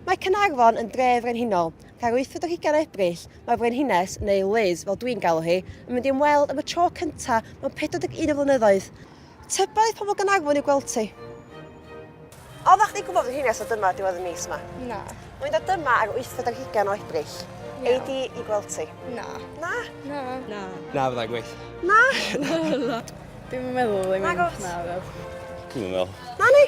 Mae Caernarfon yn dre frenhinol, ac ar 8 o hugain o Ebrill, mae Frenhines, neu Liz fel dwi'n galw hi, yn mynd i ymweld am y tro cyntaf mewn 41 o flynyddoedd. Tybed aeth pobl Gaernarfon i'w gweld ti? Oeddech chdi'n gwybod Frenhines o dyma diwedd y mis yma? Na. Mae'n dod dyma ar 8 o hugain o Ebrill. Na. Ei di i gweld ti? Na. Na? Na. Na. Na, fyddai'n gweith. Na? Na. Dwi'n meddwl ddim yn... Na, gwrs. Na, Dwi'n meddwl. Na, ni?